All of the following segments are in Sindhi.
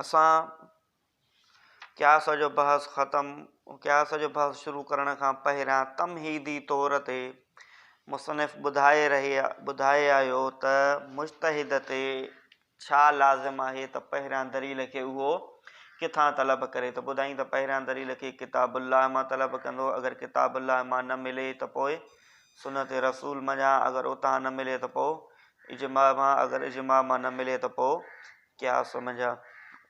اسان قياس جو بحث ختم قياس جو بحث شروع ڪرڻ کان پهريان تمهيدي طور تي مصنف ٻڌائي رهي ٻڌائي آيو ته مجتهد تي ڇا لازم آهي ته پهريان دليل کي اهو ڪٿان طلب ڪري ته ٻڌائين ته پهريان دليل کي ڪتاب الله مان طلب ڪندو اگر ڪتاب الله مان نه ملي ته پوء سنت رسول منجهان اگر اتان نه ملي ته پوء اجماع مان اگر اجماع مان نه ملي ته پوء قياس منجهان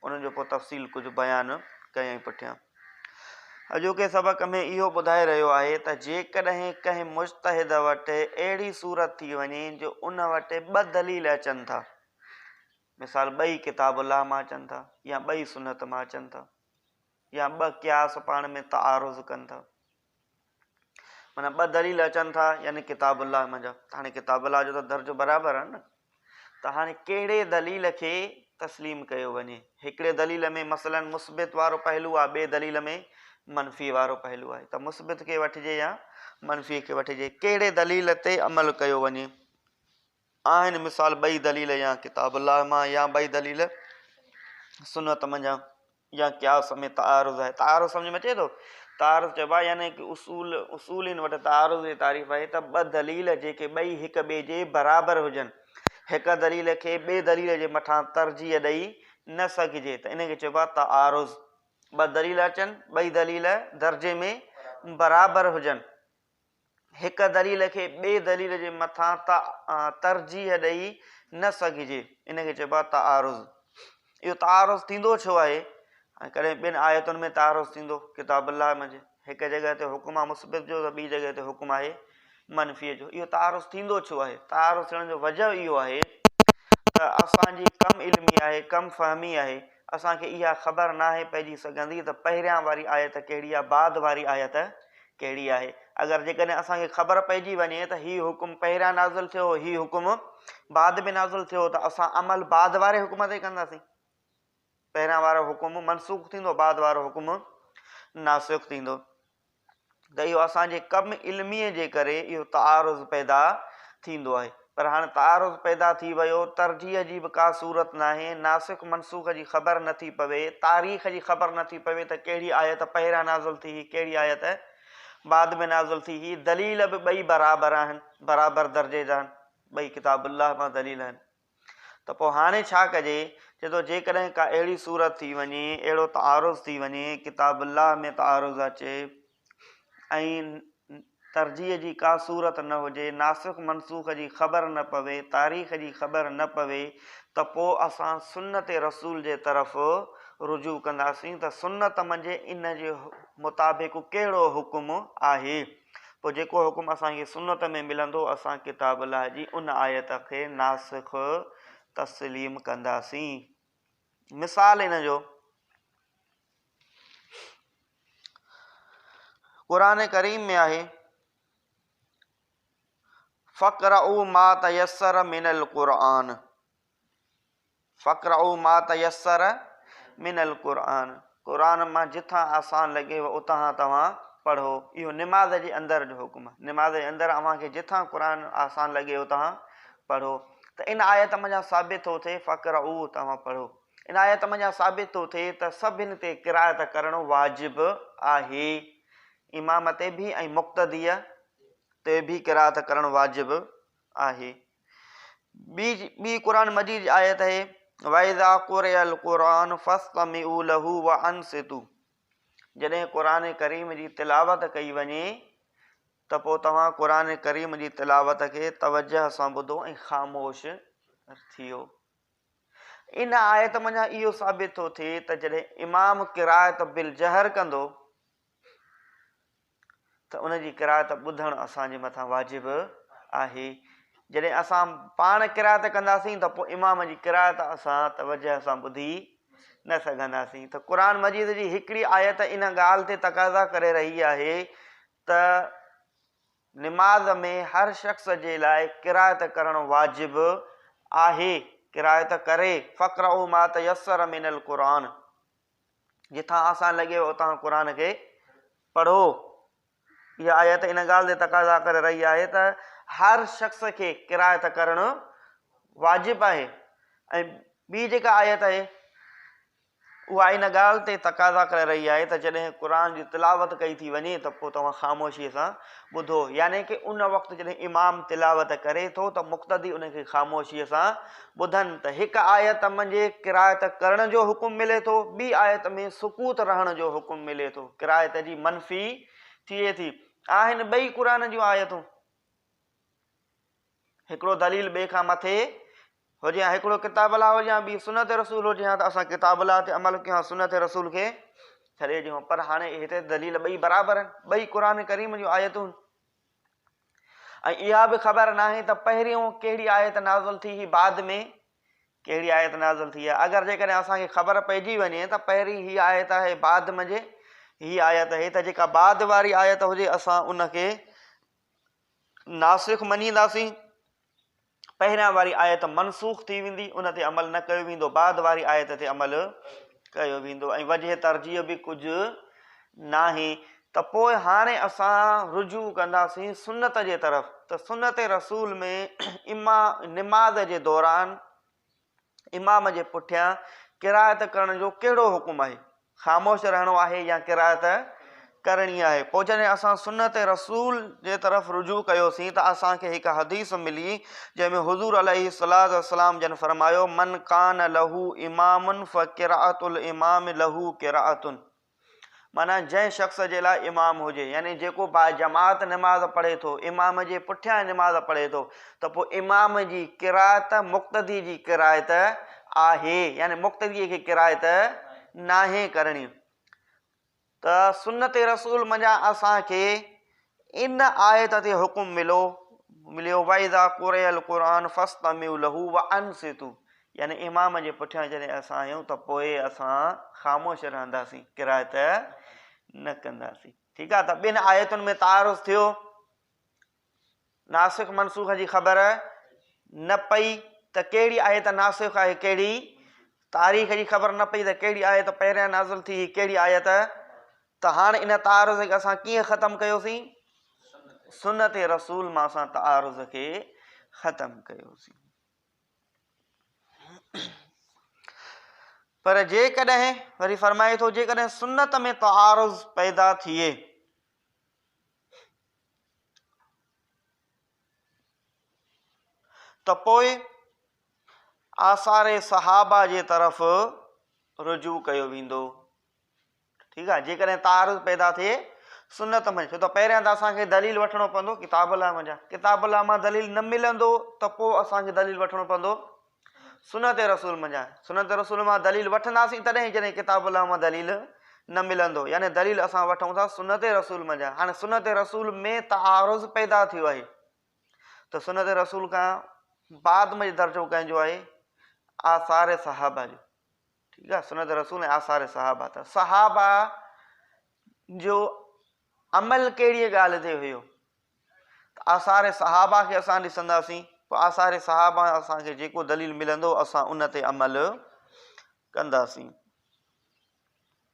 انهن جو پوء تفصيل ڪجهه بيان ڪيائين پٺيان اڄوڪي سبق ۾ اهو ٻڌائي رهيو آهي ته جيڪڏهن ڪنهن مجتهد وٽ اهڙي صورت ٿي وڃي جو ان وٽ ٻه دليل اچن ٿا مثال ٻئي ڪتاب الله مان اچن ٿا يا ٻئي سنت مان اچن ٿا يا ٻه قياس پاڻ ۾ تعارض ڪن ٿا معنيٰ ٻه دليل اچن ٿا يعني ڪتاب الله منجهان ته هاڻي ڪتاب الله جو ته درجو برابر آهي نه ته هاڻي ڪهڙي دليل کي تسليم ڪيو وڃي هڪڙي دليل ۾ مثلا مثبت وارو پهلو آهي ٻي دليل ۾ منفي وارو پهلو آهي ته مثبت کي وٺجي يا منفي کي وٺجي ڪهڙي دليل تي عمل ڪيو وڃي آهن مثال ٻئي دليل يا ڪتاب الله مان يا ٻئي دليل سنت منجهان يا قياس ۾ تعارض آهي. تعارض سمجهه ۾ اچي ٿو؟ تعارض چئبو آهي يعني ڪي اصول، اصولين وٽ تعارض جي تعريف آهي ته ٻه دليل جيڪي ٻئي هڪ ٻئي جي برابر هجن، هڪ دليل کي ٻئي دليل جي مٿان ترجيح ڏئي نه سگهجي ته ان کي چئبو آهي تعارض. ٻه دليل اچن، ٻئي دليل درجي ۾ برابر هجن، هڪ دليل کي ٻئي دليل جي مٿان ترجيح ڏئي نه سگهجي، ان کي چئبو آهي تعارض. اهو تعارض ٿيندو ڇو آهي؟ ڪڏهن ٻن آيتن ۾ تعارض ٿيندو، ڪتاب الله منجهه هڪ جڳهه تي حڪم آهي مثبت جو ته ٻي جڳهه تي حڪم آهي منفيء جو، اهو تعارض ٿيندو ڇو آهي؟ تعارض ٿيڻ جو وجهه اهو آهي ته اسان جي ڪم علمي آهي، ڪم فهمي آهي، اسان کي اها خبر ناهي پئجي سگهندي ته پهريان واري آيت ڪهڙي آهي بعد واري آيت ڪهڙي آهي. اگر جيڪڏهن اسان کي خبر پئجي وڃي ته هي حڪم پهريان نازل ٿيو هو هي حڪم بعد ۾ نازل ٿيو هو ته اسان عمل بعد واري حڪم تي ڪنداسين. پهريان وارو حڪم منسوخ ٿيندو بعد وارو حڪم ناسخ ٿيندو. ته اهو اسان جي ڪم علميء جي ڪري اهو تعارض پيدا ٿيندو آهي. پر هاڻ تعارض پيدا ٿي ويو، ترجيح جي به ڪا صورت ناهي، ناسخ منسوخ جي خبر نه ٿي پوي، تاريخ جي خبر نه ٿي پوي ته ڪهڙي آيت پهريان نازل ٿي هئي ڪهڙي آيت بعد ۾ نازل ٿي هئي، دليل به ٻئي برابر آهن، برابر درجي جا آهن، ٻئي ڪتاب الله مان دليل آهن. ته پوء هاڻي ڇا ڪجي؟ چئي ٿو، جيڪڏهن ڪا اهڙي صورت ٿي وڃي، اهڙو تعارض ٿي وڃي، ڪتاب الله ۾ تعارض اچي ۽ ترجيح جي ڪا صورت نه هجي، ناسخ منسوخ جي خبر نه پوي، تاريخ جي خبر نه پوي ته پوء اسان سنت رسول جي طرف رجوع ڪنداسين ته سنت منجهه ان جي مطابق ڪهڙو حڪم آهي؟ پوء جيڪو حڪم اسان کي سنت ۾ ملندو، اسان ڪتاب الله جي ان آيت کي ناسخ تسليم ڪنداسين. مثال ان جو، قرآن ڪريم ۾ آهي، فاقرؤ ما تيسر من القرآن. فقرعو ما تيسر من القرآن قرآن مان جتان آسان لڳيو اتان توهان پڙهو اهو نماز جي اندر جو حڪم آهي نماز جي اندر اوهان کي جتان قرآن آسان لڳي اتان پڙهو ته ان آيت منجهان ثابت ٿو ٿئي فقرعو توهان پڙهو ان آيت منجهان ثابت ٿو ٿئي ته سڀن تي قرائت ڪرڻو واجب آهي امام تي به ۽ مقتديء تي به قرائت ڪرڻ واجب آهي ٻي قرآن مجيد جي آيت آهي واذا قرئ القرآن فاستمعوا له وانصتوا جڏهن قرآن ڪريم جي تلاوت ڪئي وڃي ته پوء توهان قرآن ڪريم جي تلاوت کي توجه سان ٻڌو ۽ خاموش ٿيو ان آيت منجهان اهو ثابت ٿو ٿئي ته جڏهن امام قرائت بالجهر ڪندو ته ان جي قرائت ٻڌڻ اسان جي مٿان واجب آهي. جڏهن اسان پاڻ قرائت ڪنداسين ته پوء امام جي قرائت اسان توجه سان ٻڌي نه سگهنداسين ته قرآن مجيد جي هڪڙي آيت ان ڳالهه تي تقاضا ڪري رهي آهي ته نماز ۾ هر شخص جي لاء قرائت ڪرڻ واجب آهي قرائت ڪري فقرعو ما تيسر من القرآن جتان آسان لڳيو اتان قرآن کي پڙهو. اها آيت ان ڳالهه تي تقاضا ڪري رهي آهي ته هر شخص کي قرائت ڪرڻ واجب آهي ۽ ٻي جيڪا آيت آهي اها ان ڳالهه تي تقاضا ڪري رهي آهي ته جڏهن قرآن جي تلاوت ڪئي ٿي وڃي ته پوء توهان خاموشيء سان ٻڌو يعني ڪه ان وقت جڏهن امام تلاوت ڪري ٿو ته مقتدي ان کي خاموشيء سان ٻڌن ته هڪ آيت منجهه قرائت ڪرڻ جو حڪم ملي ٿو ٻي آيت ۾ سڪوت رهڻ جو حڪم ملي ٿو قرائت جي منفي ٿئي ٿي آهن ٻئي قرآن جون آيتون هڪڙو دليل ٻئي کان مٿي هجي يا هڪڙو ڪتاب الله هجي يا ٻي سنت رسول هجي يا ته اسان ڪتاب الله تي عمل ڪيون سنت رسول کي ڇڏي ڏيون پر هاڻي هتي دليل ٻئي برابر آهن ٻئي قرآن ڪريم جون آيتون ۽ اها به خبر ناهي ته پهريون ڪهڙي آيت نازل ٿي هي بعد ۾ ڪهڙي آيت نازل ٿي آهي اگر جيڪڏهن اسان کي خبر پئجي وڃي ته پهرين هي آيت آهي بعد منجهه هي آيت آهي ته جيڪا بعد واري آيت هجي اسان ان کي ناسخ مڃينداسين پهريان واري آيت منسوخ ٿي ويندي، ان تي عمل نه ڪيو ويندو، بعد واري آيت تي عمل ڪيو ويندو ۽ وجه ترجيح به ڪجهه ناهي ته پوء هاڻي اسان رجوع ڪنداسين سنت جي طرف ته سنت رسول ۾ اما نماز جي دوران امام جي پٺيان قرائت ڪرڻ جو ڪهڙو حڪم آهي؟ خاموش رهڻو آهي يا قرائت ڪرڻي آهي؟ پوء جڏهن اسان سنت رسول جي طرف رجوع ڪيوسين ته اسان کي هڪ حديث ملي جنهن ۾ حضور عليه الصلوة والسلام جن فرمايو، من ڪان له امام فقرائت الامام له قرائة. معنيٰ جنهن شخص جي لاء امام هجي، يعني جيڪو باجماعت نماز پڙهي ٿو، امام جي پٺيان نماز پڙهي ٿو، ته پوء امام جي قرائت مقتدي جي قرائت آهي، يعني مقتديء کي قرائت ناهي ڪرڻي. ته سنت رسول منجهان اسان کي ان آيت تي حڪم ملو مليو واذا قرئ القرآن فاستمعوا له وانصتوا يعني امام جي پٺيان جڏهن اسان آهيون ته پوء اسان خاموش رهنداسين قرائت نه ڪنداسين ٺيڪ آهي ته ٻن آيتن ۾ تعارض ٿيو ناسخ منسوخ جي خبر نه پئي ته ڪهڙي آيت ناسخ آهي ڪهڙي تاريخ جي خبر نه پئي ته ڪهڙي آيت پهريان نازل ٿي ڪهڙي آيت ته هاڻ ان تعارض کي اسان ڪيئن ختم ڪيوسين؟ سنت رسول مان اسان تعارض کي ختم ڪيوسين. پر جيڪڏهن وري فرمائي ٿو جيڪڏهن سنت ۾ تعارض پيدا ٿئي ته پوء آثار صحابه جي طرف رجوع ڪيو ويندو. ٺيڪ آهي جيڪڏهن تعارض پيدا ٿئي سنت ۾ ڇو ته پهريان ته اسان کي دليل وٺڻو پوندو ڪتاب الله مان جا ڪتاب الله مان دليل نه ملندو ته پوء اسان کي دليل وٺڻو پوندو سنت رسول مان جا سنت رسول مان دليل وٺنداسين تڏهن جڏهن ڪتاب الله مان دليل نه ملندو يعني دليل اسان وٺون ٿا سنت رسول مان جا هاڻي سنت رسول ۾ تعارض پيدا ٿيو آهي ته سنت رسول کان بعد ۾ درجو ڪنهن جو آهي آثار صحابه جو ٺيڪ آ سنت رسول ۽ آثار صحابه ته صحابه جو عمل ڪهڙي ڳالهه تي هيو ته آثار صحابه کي اسان ڏسنداسين پوء آثار صحابه اسان کي جيڪو دليل ملندو اسان ان تي عمل ڪنداسين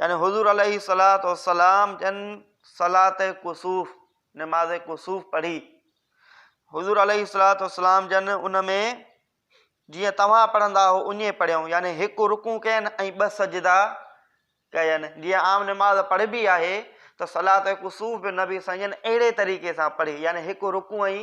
يعني حضور عليه الصلوة والسلام جن صلاة ڪسوف، نماز ڪسوف پڙهي، حضور عليه الصلوة والسلام جن ان ۾ جيئن توهان پڙهندا هو اڃي پڙهيون يعني هڪ رڪوع ڪين ۽ ٻه سجدا ڪين جيئن عام نماز پڙهبي آهي ته صلاة ڪسوف به نبي سائين جن اهڙي طريقي سان پڙهي يعني هڪ رڪوع ۽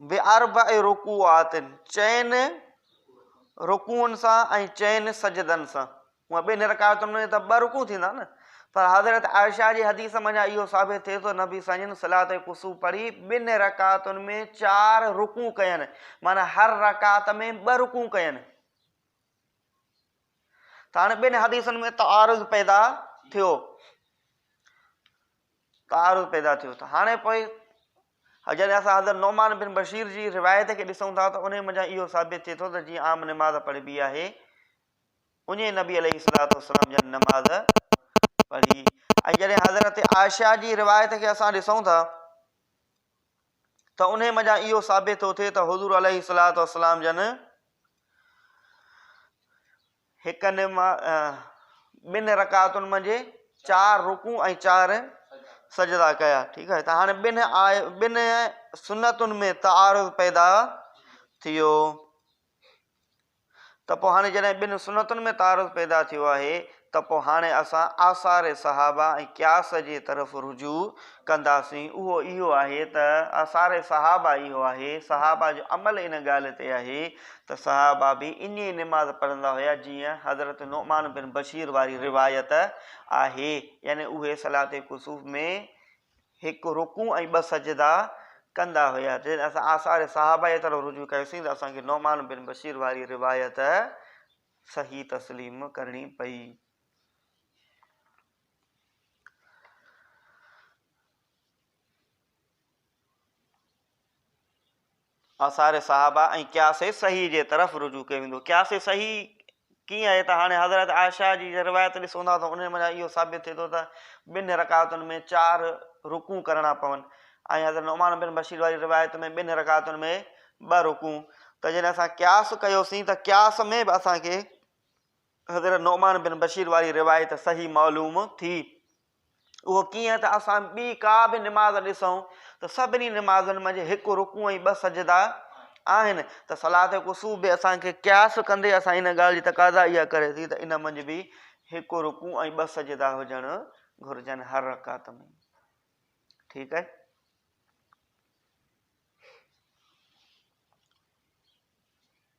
باربع رڪوعات، چئن رڪوعن سان ۽ چئن سجدن سان. هونئن ٻن رڪاعتن ۾ ته ٻه رڪوع ٿيندا نه، پر حضرت عائشه جي حديث منجهان اهو ثابت ٿئي ٿو نبي صلي الله عليه وسلم صلاة ڪسوف پڙهي ٻن رڪعتن ۾ چار رڪوع ڪين معنيٰ هر رڪعت ۾ ٻه رڪوع ڪين ته هاڻي ٻن حديثن ۾ تعارض پيدا ٿيو. تعارض پيدا ٿيو ته هاڻي پوء جڏهن اسان حضرت نعمان بن بشير جي روايت کي ڏسون ٿا ته انهي منجهان اهو ثابت ٿئي ٿو ته جيئن عام نماز پڙهبي آهي اڃي نبي عليه الصلوة والسلام جا نماز پڙهي ۽ جڏهن حضرت عائشه جي روايت کي اسان ڏسون ٿا ته انهي منجهان اهو ثابت ٿو ٿئي ته حضور عليه الصلوة والسلام جن هڪ نماز ٻن رڪعتن منجهه چار رڪوع ۽ چار سجدا ڪيا ٺيڪ آهي ته هاڻي ٻن ٻن سنتن ۾ تعارض پيدا ٿيو ته پوء هاڻي جڏهن ٻن سنتن ۾ تعارض پيدا ٿيو آهي ته پوء هاڻي اسان آثار صحابه ۽ قياس جي طرف رجوع ڪنداسين اهو اهو آهي ته آثار صحابه اهو آهي صحابه جو عمل ان ڳالهه تي آهي ته صحابه به ائين نماز پڙهندا هيا جيئن حضرت نعمان بن بشير واري روايت آهي يعني اهي صلات ڪسوف ۾ هڪ رڪوع ۽ ٻه سجدا ڪندا هيا جڏهن اسان آثار صحابه جي طرف رجوع ڪيوسين ته اسان کي نعمان بن بشير واري روايت صحيح تسليم ڪرڻي پئي. آثار صحابه ۽ قياس صحيح جي طرف رجوع ڪيو ويندو قياس صحيح ڪيئن آهي ته هاڻي حضرت عائشه جي روايت ڏسون ٿا ته ان مان اهو ثابت ٿئي ٿو ته ٻن رڪعتن ۾ چار رڪوع ڪرڻا پون ۽ حضرت نعمان بن بشير واري روايت ۾ ٻن رڪعتن ۾ ٻه رڪوع ته جڏهن اسان قياس ڪيوسين ته قياس ۾ به اسانکي حضرت نعمان بن بشير واري روايت صحيح معلوم ٿي. اهو ڪيئن ته اسان ٻي ڪا به نماز ڏسون ته سڀني نمازن منجهه هڪ رڪوع ۽ ٻه سجدا آهن ته صلات قصور به اسان کي قياس ڪندي اسان ان ڳالهه جي تقاضا اها ڪري ٿي ته ان منجهه به هڪ رڪوع ۽ ٻه سجدا هجڻ گهرجن هر رڪعت ۾ ٺيڪ آهي.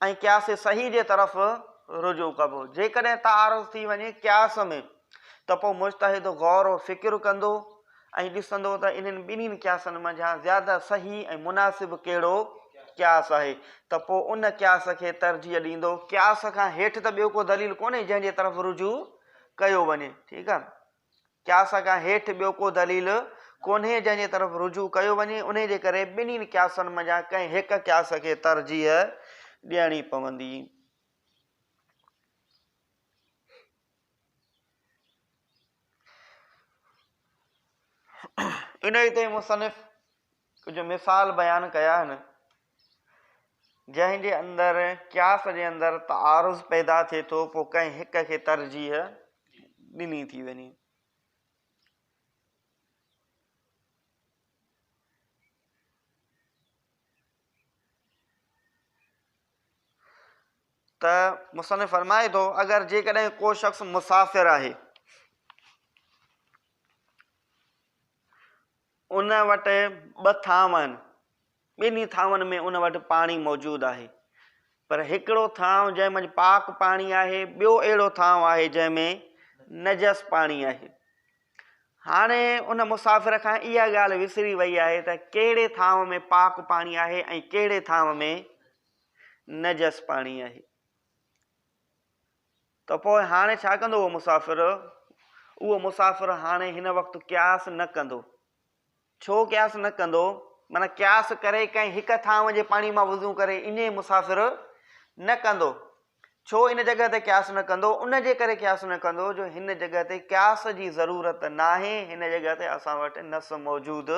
۽ قياس صحيح جي طرف رجوع ڪبو. جيڪڏهن تعارض ٿي وڃي قياس ۾ ته پوء مجتهد غور و فڪر ڪندو ۽ ڏسندو ته انهن ٻنهين قياسن منجهان زياده صحيح ۽ مناسب ڪهڙو قياس آهي ته پوء ان قياس کي ترجيح ڏيندو. قياس کان هيٺ ته ٻيو ڪو دليل ڪونهي جنهن جي طرف رجوع ڪيو وڃي. ٺيڪ آهي. قياس کان هيٺ ٻيو ڪو دليل ڪونهي جنهن جي طرف رجوع ڪيو وڃي، انهي جي ڪري ٻنهين قياسن منجهان ڪنهن هڪ قياس کي ترجيح ڏيڻي پوندي. انهي تي مصنف ڪجهه مثال بيان ڪيا آهن. جنهن جي اندر قياس جي اندر تعارض پيدا ٿئي ٿو پوء ڪنهن هڪ کي ترجيح ڏني ٿي وڃي. ته مصنف فرمائي ٿو اگر جيڪڏهن ڪو شخص مسافر آهي ان وٽ ٻه ٿانو آهن ٻنهي ٿانون ۾ ان وٽ پاڻي موجود آهي، پر هڪڙو ٿانو جنهن منجهه پاڪ پاڻي آهي، ٻيو اهڙو ٿانو آهي جنهن ۾ نجس پاڻي آهي. هاڻي ان مسافر کان اها ڳالهه وسري وئي آهي ته ڪهڙي ٿانو ۾ پاڪ پاڻي آهي ۽ ڪهڙي ٿانو ۾ نجس پاڻي آهي. ته پوء هاڻي ڇا ڪندو اهو مسافر؟ اهو مسافر هاڻي هن وقت قياس نه ڪندو. ڇو قياس نه ڪندو؟ معنيٰ قياس ڪري ڪنهن هڪ ٿانء جي پاڻي مان وضو ڪري اڃي مسافر نه ڪندو. ڇو ان جڳهه تي قياس نه ڪندو؟ ان جي ڪري قياس نه ڪندو جو هن جڳهه تي قياس جي ضرورت ناهي، هن جڳهه تي اسان وٽ نص موجود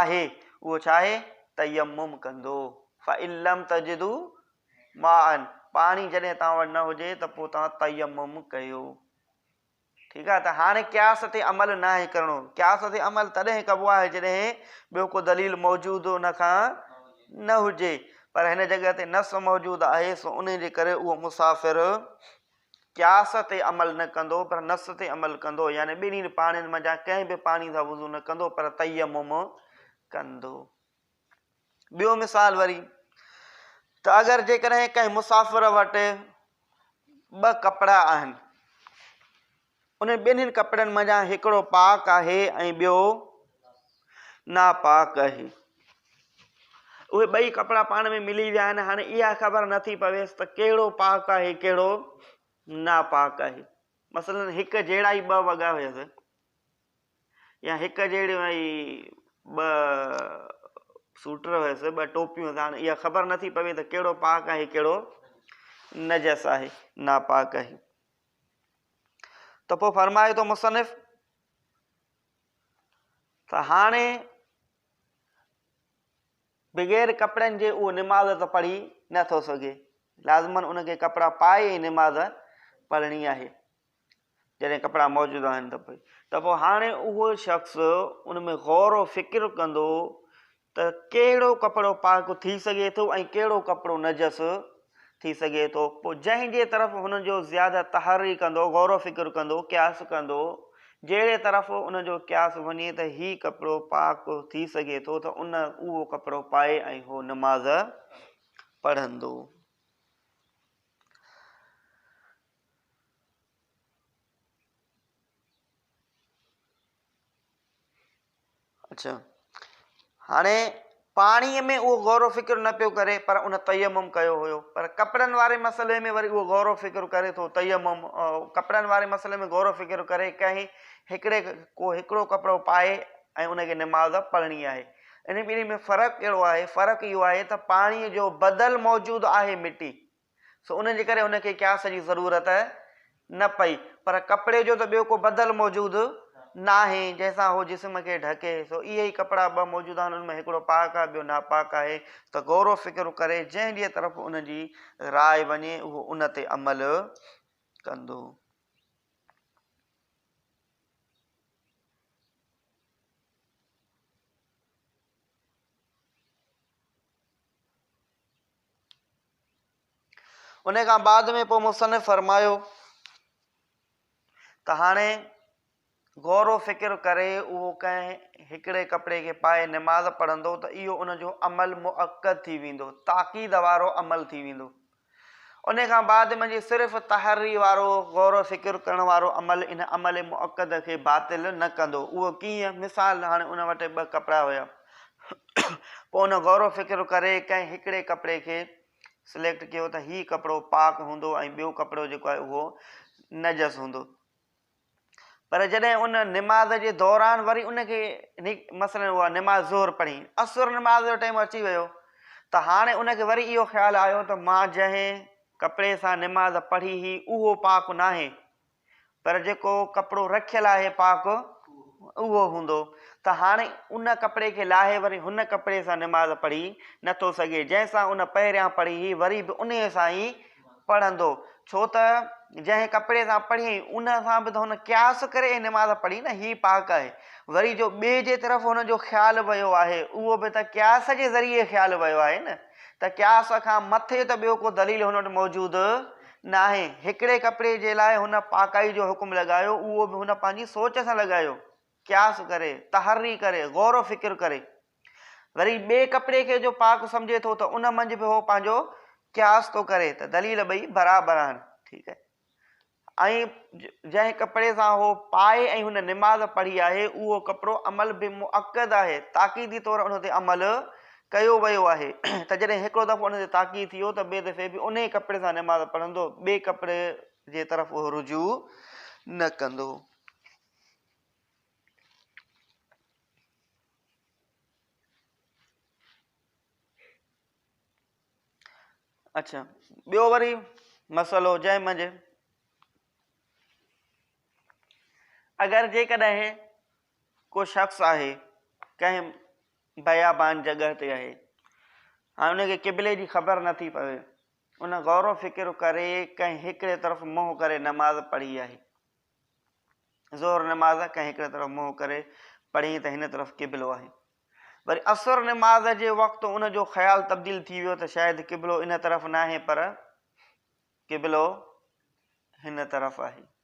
آهي، اهو ڇا آهي؟ تيمم ڪندو. فَإِن لَمْ تَجِدُوا مَاءً پاڻي جڏهن توهان وٽ نه هجي ته پوء توهان تيمم ڪيو. ٺيڪ آهي ته هاڻي قياس تي عمل ناهي ڪرڻو، قياس تي عمل تڏهن ڪبو آهي جڏهن ٻيو ڪو دليل موجود ان کان نه هجي پر هن جڳهه تي نص موجود آهي سو انهي جي ڪري اهو مسافر قياس تي عمل نه ڪندو پر نص تي عمل ڪندو يعني ٻنهي پاڻين منجهان ڪنهن به پاڻي سان وضو نه ڪندو پر تيمم ڪندو. ٻيو مثال وري ته اگر جيڪڏهن ڪنهن مسافر وٽ ٻه ڪپڙا آهن انهن ٻنهين ڪپڙن منجهان هڪڙو پاڪ آهي ۽ ٻيو ناپاڪ آهي اهي ٻئي ڪپڙا پاڻ ۾ ملي ويا آهن هاڻي اها خبر نٿي پويس ته ڪهڙو پاڪ آهي ڪهڙو ناپاڪ آهي مثلا هڪ جهڙا ئي ٻه وڳا هيس يا هڪ جهڙيون اهي ٻه سوٽر هيس، ٻه ٽوپيون هيس، هاڻ اها خبر نٿي پوي ته ڪهڙو پاڪ آهي ڪهڙو نجس آهي، ناپاڪ آهي. ته پوء فرمائي ٿو مصنف ته هاڻي بغير ڪپڙن جي اهو نماز ته پڙهي نٿو سگهي لازمن ان کي ڪپڙا پائي نماز پڙهڻي آهي جڏهن ڪپڙا موجود آهن ته پوء ته پوء هاڻي اهو شخص ان ۾ غور و فڪر ڪندو ته ڪهڙو ڪپڙو پاڪ ٿي سگهي ٿو ۽ ڪهڙو ڪپڙو نجس ٿي سگهي ٿو پوء جنهن جي طرف هن جو زياده تحري ڪندو غور و فڪر ڪندو قياس ڪندو جهڙي طرف ان جو قياس وڃي ته هي ڪپڙو پاڪ ٿي سگهي ٿو ته ان اهو ڪپڙو پائي ۽ هو نماز پڙهندو اڇا هاڻي پاڻيء ۾ اهو غور و فڪر نه پيو ڪري پر ان تيمم ڪيو هيو پر ڪپڙن واري مسئلي ۾ وري اهو غور و فڪر ڪري ٿو تيمم ڪپڙن واري مسئلي ۾ غور و فڪر ڪري ڪنهن هڪڙي ڪو هڪڙو ڪپڙو پائي ۽ ان کي نماز پڙهڻي آهي ان ٻنهي ۾ فرق ڪهڙو آهي فرق اهو آهي ته پاڻيء جو بدل موجود آهي مٽي سو ان جي ڪري هن کي قياس جي ضرورت نه پئي. پر ڪپڙي جو ته ٻيو ڪو بدل موجود ناهي، جنهن سان هو جسم کي ڍڪي. سو اهي ئي ڪپڙا ٻه موجود آهن، ان ۾ هڪڙو پاڪ آهي، ٻيو ناپاڪ آهي. ته غور و فڪر ڪري، جنهن جي طرف ان جي راء وڃي، اهو ان تي عمل ڪندو. ان کان بعد ۾ پوء مصنف فرمايو ته هاڻي غور و فڪر ڪري اهو ڪنهن هڪڙي ڪپڙي کي پائي نماز پڙهندو ته اهو ان جو عمل مؤقت ٿي ويندو تاڪيد وارو عمل ٿي ويندو ان کان بعد ۾ جي صرف تحري وارو غور و فڪر ڪرڻ وارو عمل ان عمل مؤقت کي باطل نه ڪندو اهو ڪيئن مثال هاڻي ان وٽ ٻه ڪپڙا هيا پوء هن غور و فڪر ڪري ڪنهن هڪڙي ڪپڙي کي سليڪٽ ڪيو ته هي ڪپڙو پاڪ هوندو ۽ ٻيو ڪپڙو جيڪو آهي اهو نجس هوندو. پر جڏهن ان نماز جي دوران وري ان کي مثلاً اها نماز ظهر پڙهي، عصر نماز جو ٽيم اچي ويو ته هاڻي ان کي وري اهو خيال آيو ته مان جنهن ڪپڙي سان نماز پڙهي هئي اهو پاڪ ناهي، پر جيڪو ڪپڙو رکيل آهي پاڪ اهو هوندو ته هاڻي ان ڪپڙي کي لاهي وري هن ڪپڙي سان نماز پڙهي نه ٿو سگهي جنهن سان ان پهريان پڙهي هئي وري به انهيء سان ئي پڙهندو ڇو ته جنهن ڪپڙي سان پڙهي هئي ان سان به ته هن قياس ڪري هي نماز پڙهي نه هي پاڪ آهي وري جو ٻئي جي طرف هن جو خيال ويو آهي اهو به ته قياس جي ذريعي خيال ويو آهي نه ته قياس کان مٿي ته ٻيو ڪو دليل هن وٽ موجود ناهي. هڪڙي ڪپڙي جي لاء هن پاڪائي جو حڪم لڳايو، اهو به هن پنهنجي سوچ سان لڳايو، قياس ڪري، تحري ڪري، غور و فڪر ڪري. وري ٻئي ڪپڙي کي جو پاڪ سمجهي ٿو ته ان منجهه به هو پنهنجو قياس ٿو ڪري ته دليل ٻئي برابر آهن. ٺيڪ آهي. ۽ جنهن ڪپڙي سان هو پائي ۽ هن نماز پڙهي آهي، اهو ڪپڙو عمل به مؤڪد آهي، تاڪيدي طور ان تي عمل ڪيو ويو آهي ته جڏهن هڪڙو دفعو ان تي تاڪيد ٿيو ته ٻئي دفعي به انهي ڪپڙي سان نماز پڙهندو ٻئي ڪپڙي جي طرف اهو رجوع نه ڪندو. اڇا ٻيو وري مسئلو جنهن منجهه اگر جيڪڏهن ڪو شخص آهي ڪنهن بيابان جڳهه تي آهي ۽ ان کي قبلي جي خبر نه ٿي پوي. ان غور و فڪر ڪري ڪنهن هڪڙي طرف منهن ڪري نماز پڙهي آهي. ظهر نماز ڪنهن هڪڙي طرف منهن ڪري پڙهي ته هن طرف قبلو آهي. وري عصر نماز جي وقت ان جو خيال تبديل ٿي ويو ته شايد قبلو ان طرف ناهي پر قبلو هن طرف آهي.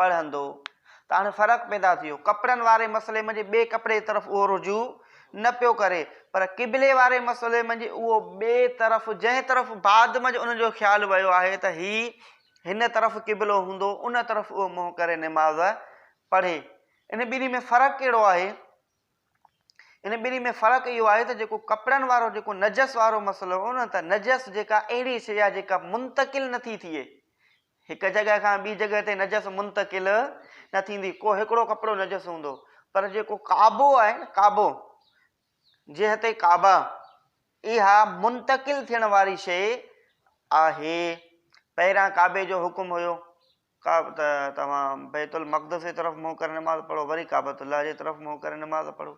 پڙهندو ته هاڻي فرق پيدا ٿي ويو. ڪپڙن واري مسئلي منجهه ٻئي ڪپڙي جي طرف اهو رجوع نه پيو ڪري پر قبلي واري مسئلي منجهه اهو ٻئي طرف جنهن طرف بعد منجهه ان جو خيال ويو آهي ته هي هن طرف قبلو هوندو ان طرف اهو منهن ڪري نماز پڙهي. ان ٻنهي ۾ فرق ڪهڙو آهي؟ ان ٻنهي ۾ فرق اهو آهي ته جيڪو ڪپڙن وارو جيڪو نجس وارو مسئلو هو نه ته نجس جيڪا اهڙي شيء آهي جيڪا منتقل نه ٿي ٿئي هڪ جڳهه کان ٻي جڳهه تي نجس منتقل نه ٿيندي ڪو هڪڙو ڪپڙو نجس هوندو پر جيڪو ڪعبو آهي نه ڪعبو جهت ڪعبه اها منتقل ٿيڻ واري شيء آهي پهريان ڪعبي جو حڪم هيو ڪعبه ته توهان بيت المقدس جي طرف منهن ڪري نماز پڙهو وري ڪعبة الله جي طرف منهن ڪري نماز پڙهو.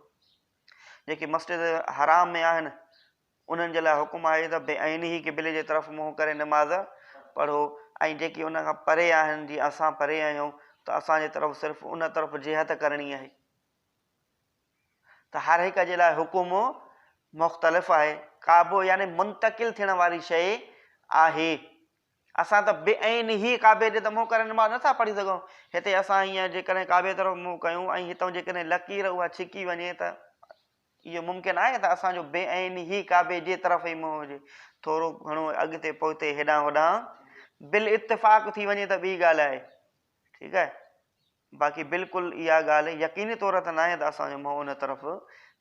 جيڪي مسجد حرام ۾ آهن انهن جي لاء حڪم آهي ته بعينه قبلي جي طرف منهن ڪري نماز پڙهو ۽ جيڪي ان کان پري آهن جيئن اسان پري آهيون ته اسان جي طرف صرف ان طرف جهت ڪرڻي آهي. ته هر هڪ جي لاء حڪم مختلف آهي. ڪعبو يعني منتقل ٿيڻ واري شيء آهي. اسان ته بي عين هي ڪعبي ڏي ته منهن ڪري نماز نه ٿا پڙهي سگهون. هتي اسان هينئر جيڪڏهن ڪعبي طرف منهن ڪيون ۽ هتئون جيڪڏهن لڪير اها ڇڪي وڃي ته اهو ممڪن آهي ته اسان جو بي عين هي ڪعبي جي طرف ئي منهن هجي. ٿورو گهڻو اڳتي پوئتي هيڏانهن هوڏانهن بالاتفاق ٿي وڃي ته ٻي ڳالهه آهي. ٺيڪ آهي. باقي بلڪل اها ڳالهه يقيني طور ته ناهي ته اسان جو منهن ان طرف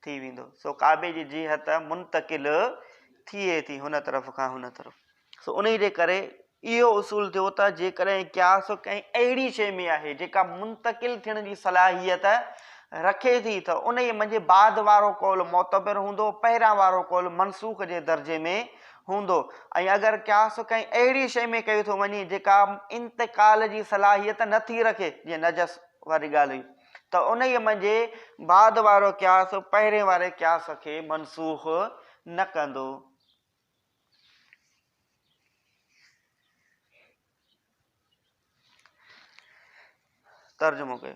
ٿي ويندو، سو ڪعبي جي جهت منتقل ٿئي ٿي هن طرف کان هن طرف. سو انهي جي ڪري اهو اصول ٿيو ته جيڪڏهن قياس ڪنهن اهڙي شيء ۾ آهي جيڪا منتقل ٿيڻ جي صلاحيت رکي ٿي ته انهي منجهه بعد وارو قول معتبر هوندو پهريان وارو قول منسوخ جي درجي ۾ هوندو ۽ اگر قياس ڪنهن اهڙي شيء ۾ ڪيو ٿو وڃي جيڪا انتقال جي صلاحيت نه ٿي رکي جيئن نجس واري ڳالهه هئي ته انهيء منجهه بعد وارو قياس پهرين واري قياس کي منسوخ نه ڪندو. ترجمو ڪيو.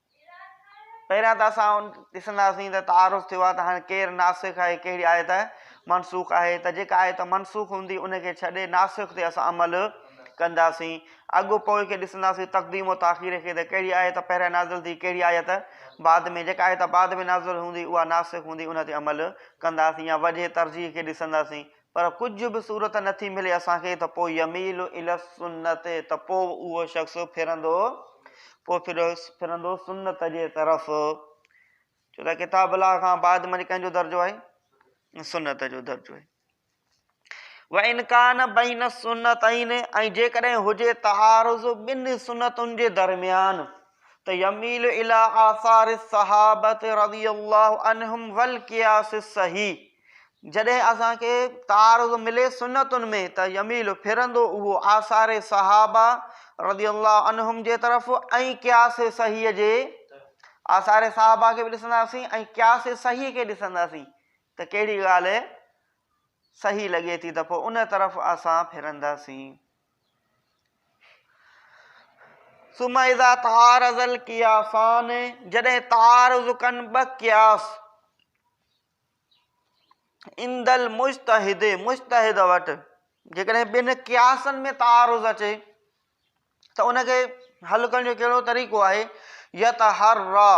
پهريان ته اسان ڏسنداسين ته تعارف ٿيو آهي ته هاڻي ڪير ناسخ آهي ڪهڙي آيت منسوخ آهي ته جيڪا آيت منسوخ هوندي ان کي ڇڏي ناسخ تي اسان عمل ڪنداسين اڳو پوء کي ڏسنداسين تقديم و تاخير کي ته ڪهڙي آيت پهريان نازل ٿي ڪهڙي آيت بعد ۾ جيڪا آيت بعد ۾ نازل هوندي اها ناسخ هوندي ان تي عمل ڪنداسين يا وجه ترجيح کي ڏسنداسين پر ڪجهه به صورت نه ٿي ملي اسان کي ته پوء يميل الي السنت ته پوء اهو شخص ڦرندو پوء ڦرندو سنت جي طرف ڇو ته ڪتاب الله کان بعد ۾ ڪنهن جو درجو آهي سنت جو درجو آهي وان کان بين السنتين ۽ جيڪڏهن هجي تعارض بن سنتن جي درميان ته يميل الى آثار الصحابه رضي الله عنهم والقياس الصحيح جڏهن اسان کي تعارض ملي سنتن ۾ ته يميل ڦرندو اهو آثار صحابه رضي الله عنهم جي طرف ۽ قياس صحيح جي آثار صحابه کي به ڏسنداسين ۽ قياس صحيح کي ڏسنداسين ته ڪهڙي ڳالهه صحيح لڳي ٿي ته پوء ان طرف اسان ڦرنداسين ثم اذا تعارض القياسان جڏهن تعارض ڪن ٻه قياس عند المجتهد مجتهد وٽ جيڪڏهن ٻن قياسن ۾ تعارض اچي ته ان کي حل ڪرڻ جو ڪهڙو طريقو آهي يت هر را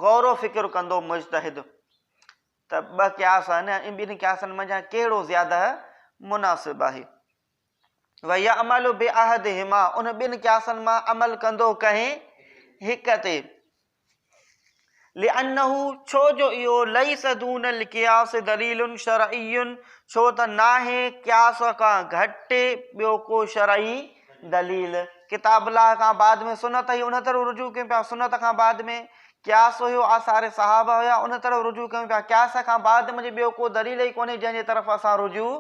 غور و فڪر ڪندو مجتهد ته ٻه قياس آهن ۽ ٻن قياسن منجهان ڪهڙو زياده مناسب آهي ويعمل بعهدهما ان ٻن قياسن مان عمل ڪندو ڪنهن هڪ تي لانه ڇو جو اهو ليس دون القياس دليل شرعي ڇو ته ناهي قياس کان گهٽ ٻيو ڪو شرعي دليل ڪتاب الله کان بعد ۾ سنت هي ان تي رجوع ڪيون پيا سنت کان بعد ۾ قياس اهو آثار صحابه هيا ان طرف رجوع ڪيون پيا قياس کان بعد منجهه ٻيو ڪو دليل ئي ڪونهي جنهن جي طرف اسان رجوع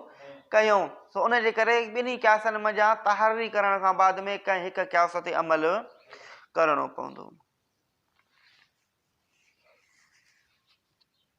ڪيون سو ان جي ڪري ٻنهي قياسن منجهان تحري ڪرڻ کان بعد ۾ ڪنهن هڪ قياس تي عمل ڪرڻو پوندو.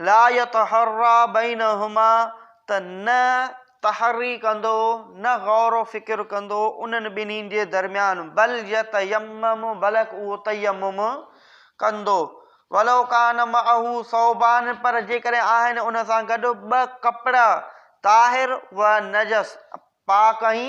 لا يتحرا بينهما ته نه تحري ڪندو نه غور و فڪر ڪندو انهن ٻنهين جي درميان بل يتيمم بلڪ اهو تيمم ڪندو ولو ڪان معه ثوبان پر جيڪڏهن آهن ان سان گڏ ٻه ڪپڙا طاهر و نجس پاڪ ۽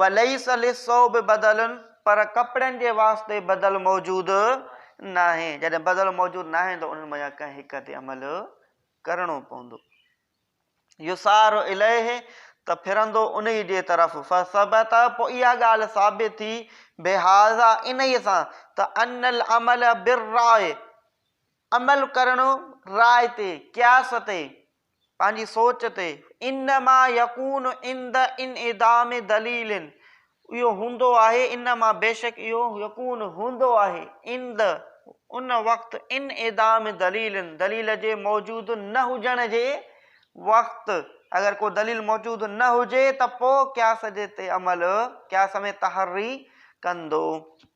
وليس للثوب بدل پر ڪپڙن جي واسطي بدل موجود ناهي، جڏهن بدل موجود ناهي ته انهن منجهان ڪنهن هڪ تي عمل ڪرڻو پوندو. يسار اليه ته ڦرندو انهي جي طرف فثبت پوء اها ڳالهه ثابت ٿي بهذا انهي سان ته ان العمل بالراء عمل ڪرڻ راء تي، قياس تي، پنهنجي سوچ تي. انما يڪون عند انعدام دليل اهو هوندو آهي انما بيشڪ اهو يڪون هوندو آهي عند ان وقت انعدام دليل دليل جي موجود نه هجڻ جي وقت اگر ڪو دليل موجود نه هجي ته پوء قياس جي تي عمل قياس ۾ تحري ڪندو.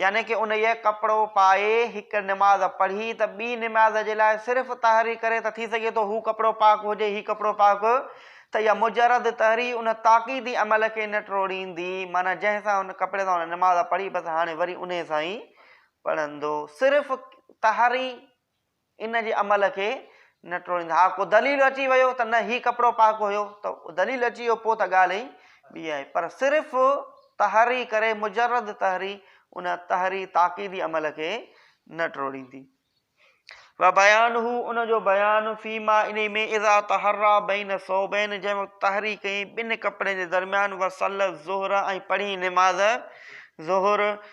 يعني ڪه انهيء ڪپڙو پائي هڪ نماز پڙهي ته ٻي نماز جي لاء صرف طهري ڪري ته ٿي سگهي ٿو هو ڪپڙو پاڪ هجي هي ڪپڙو پاڪ ته اها مجرد طهري ان تاڪيدي عمل کي نه ٽوڙيندي معنيٰ جنهن سان ان ڪپڙي سان هن نماز پڙهي بس هاڻي وري انهيء سان ئي پڙهندو صرف طهري ان جي عمل کي نه ٽوڙيندا. ها ڪو دليل اچي ويو ته نه هي ڪپڙو پاڪ هيو ته دليل اچي ويو پوء ته ڳالهه ئي ٻي آهي پر صرف تحري ڪري مجرد تحري ان تحري تاڪيدي عمل کي نه ٽوڙيندي. وبيانه ان جو بيان فيما انهي ۾ اذا تحري بين ثوبين جنهن وقت تحري ڪئي ٻن ڪپڙن جي درميان وصلي الظهر ۽ پڙهي نماز ظهر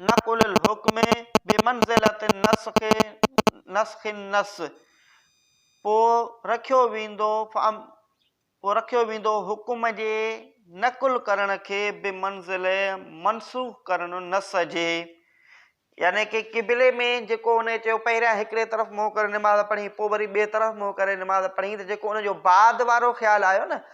نقل الحکم بمنزلة النسخ نسخ النص پوء رکيو ويندو فم پوء رکيو ويندو حڪم جي نقل ڪرڻ کي بمنزله منسوخ ڪرڻ النص جي يعني ڪي قبلي ۾ جيڪو ان چيو پهريان هڪڙي طرف منهن ڪري نماز پڙهين پوء وري ٻئي طرف منهن ڪري نماز پڙهين ته جيڪو ان جو بعد وارو خيال آيو نه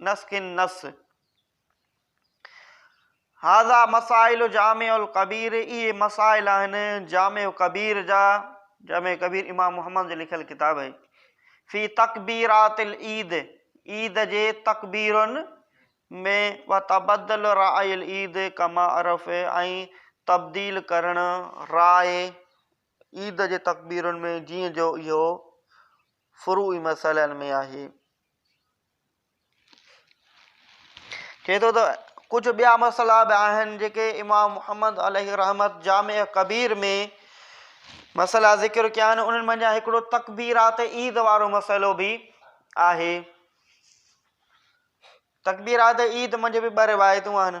نس کن نس. هذا مسائل جامع الڪبير اهي مسائل آهن جامع ڪبير جا، جامع ڪبير امام محمد جو لکيل ڪتاب آهي، في تڪبيرات العيد عيد جي تڪبيرن ۾ وتبدل راء العيد ڪما عرف ۽ تبديل ڪرڻ راء عيد جي تڪبيرن ۾ جيئن جو اهو فروعي مسئلن ۾ آهي. چئي ٿو ته ڪجهه ٻيا مسئلا به آهن جيڪي امام محمد عليه الرحمت جامع ڪبير ۾ مسئلا ذڪر ڪيا آهن انهن منجهان هڪڙو تڪبيرات عيد وارو مسئلو به آهي تڪبيرات عيد منجهه به ٻه روايتون آهن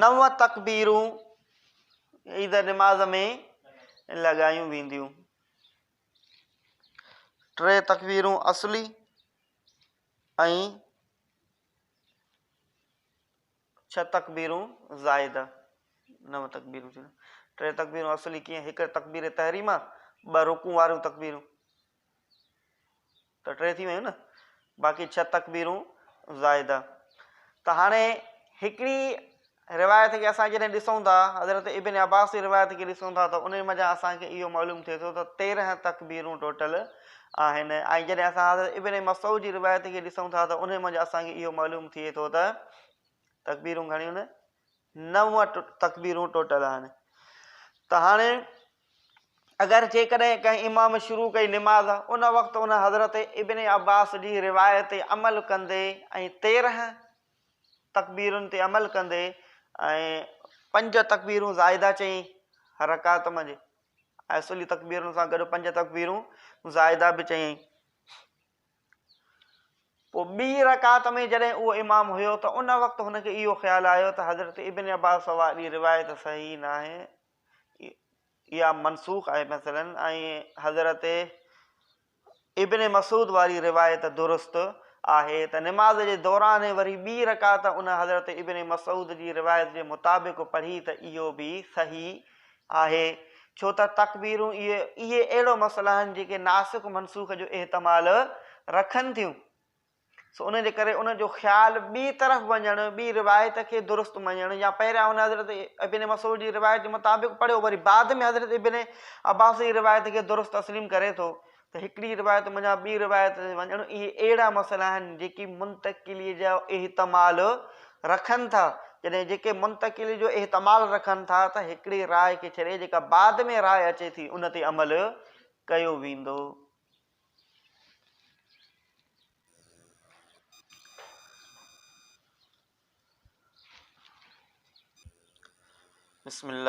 نو تڪبيرون عيد نماز ۾ لڳايون وينديون. ٽي تڪبيرون اصلي ۽ ڇهه تڪبيرون زائده. نو تڪبيرون ٿيون. ٽي تڪبيرون اصلي ڪيئن؟ هڪ تڪبير تحريمه، ٻه رڪوع واريون تڪبيرون. ته ٽي ٿي ويون نه باقي ڇهه تڪبيرون زائده ته هاڻي هڪڙي روايت کي اسان جڏهن ڏسون ٿا حضرت ابن عباس جي روايت کي ڏسون ٿا ته ان مزا اسان کي اهو معلوم ٿئي ٿو ته تيرهن تڪبيرون ٽوٽل آهن ۽ جڏهن اسان حضرت ابن مسعود جي روايت کي ڏسون ٿا ته ان مزا اسان کي اهو معلوم ٿئي ٿو ته تڪبيرون گهڻيون نه نو تڪبيرون ٽوٽل آهن ته هاڻي اگر جيڪڏهن ڪنهن امام شروع ڪئي نماز ان وقت ان حضرت ابن عباس جي روايت تي عمل ڪندي ۽ تيرهن تڪبيرن تي عمل ڪندي ۽ پنج تڪبيرون زائده چئي هر رڪعت منجهه ۽ اصولي تڪبيرن سان گڏ پنج تڪبيرون زائده به چئي پوء ٻي رڪعت ۾ جڏهن اهو امام هيو ته ان وقت هن کي اهو خيال آيو ته حضرت ابن عباس واري روايت صحيح ناهي اها منسوخ آهي مثلاً ۽ حضرت ابن مسعود واري روايت درست آهي ته نماز جي دوران وري ٻي رڪعت ان حضرت ابن مسعود جي روايت جي مطابق پڙهي ته اهو به صحيح آهي، ڇو ته تڪبيرون اهي اهي اهڙو مسئلا آهن جيڪي ناسخ منسوخ جو احتمال رکن ٿيون سو ان جي ڪري ان جو خيال ٻي طرف وڃڻ ٻي روايت کي درست مڃڻ يا پهريان هن حضرت ابن مسعود جي روايت جي مطابق پڙهيو وري بعد ۾ حضرت ابن عباس جي روايت کي درست تسليم ڪري ٿو ته هڪڙي روايت منجهان ٻي روايت تي وڃڻ اهي اهڙا مسئلا آهن جيڪي منتقليء جو احتمال رکن ٿا، جڏهن جيڪي منتقليء جو احتمال رکن ٿا ته هڪڙي راء کي ڇڏي جيڪا بعد ۾ راء اچي ٿي ان تي عمل ڪيو ويندو. بسم الله.